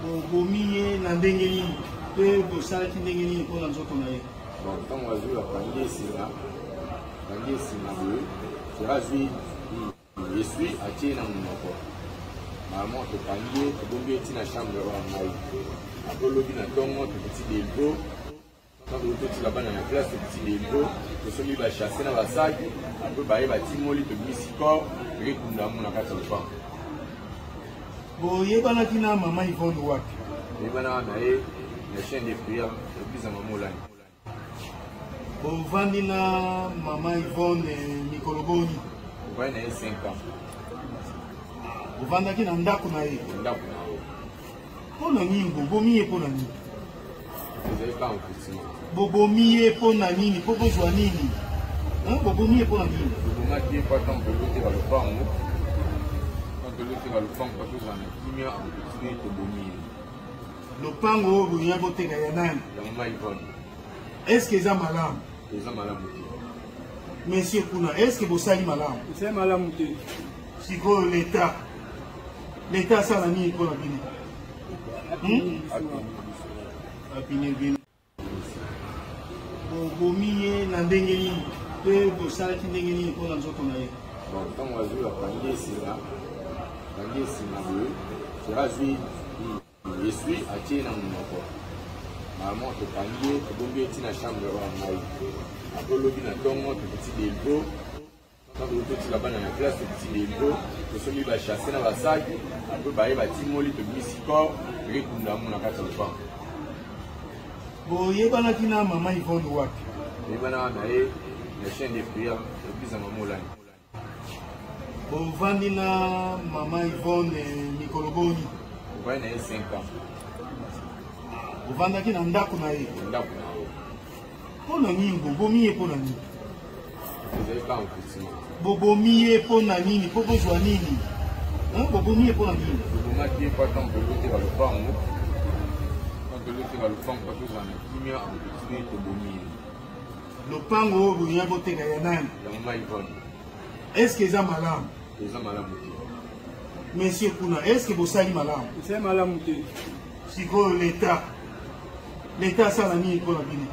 bobomi ye na ndenge nini mpe bosalaki ndenge nini mpo na nzoto na ye ntango azwi bapangi esinga pangi esinga boye sera azwi eswi atie na monoko mama topangi ye tobombi ye ntina chambre oyo ya ngai apolobi na ntongo tokiti delgo ntango totika bana na classe tokiti debro tosombi bachasse na basaki apre baye batimoli tobimisi corps ekekunda yango na kati ya lopango boyebanaki na mama ivone wapi boyebanaka na ye na chaine de prière eglise ya mama olani bovandi na mama ivone mikolo boni ovandi na ye 5 ans ovandaki na ndako na ye ndako na Pona nini bobomi ye pona nini? Bobomi ye pona nini? Po bozwa nini? Hein? Bobomi ye pona nini? Bobomaki ye po ata moto ekoteka lopango. Moto ekoteka lopango po tozala na kimia, okotiki ye tobomi ye. Lopango oyo boya boteka ya nani? Ya mama Yvonne. Est-ce que eza malamu? Eza malamu te. Monsieur kuna, est-ce que bosali malamu? Bosali malamu te. Sikoyo l'État leta asala nini mpo na bino hmm? apine bino bobomi ye na ndenge nini mpe bosalaki ndenge nini mpo na nzoto na ye ntango azwi bakangi esinga kangi esinga boye sera azwi eswi atie na monoko mama tokangi ye tobombi ye ntina chambre oyo ya ngai apolobi na ntongo tokoti delgo Tango totika bana na classe tokiti debro tosombi ba chasse na basaki apre baye batimoli tobimisi corps rekunda yango na kati ya lopango boyebanaki na mama ivone wapi boyebanaka na ye na chaine de prière eglise ya mama olani bovandi na mama ivone mikolo boni ovandi na ye 5 ans ovandaki na ndako na ye ndako na Mpo na nini bobomi ye mpo na nini? Bobomi ye mpo na nini? Mpo bozwa nini? Bobomi ye mpo na nini? Tobomaki ye mpo atango toloteka lopango, mpo toloteka lopango mpo tozwa na kimia, okotide tobomi ye. Lopango oyo boya boteka ya nani? Ya mama Ivone. Est-ce que eza malamu? Eza malamu te. Monsieur kuna, est-ce que bosali malamu? Bosali malamu te. Sikoyo l'État L'État asala nini mpo na bino?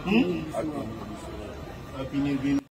Hmm?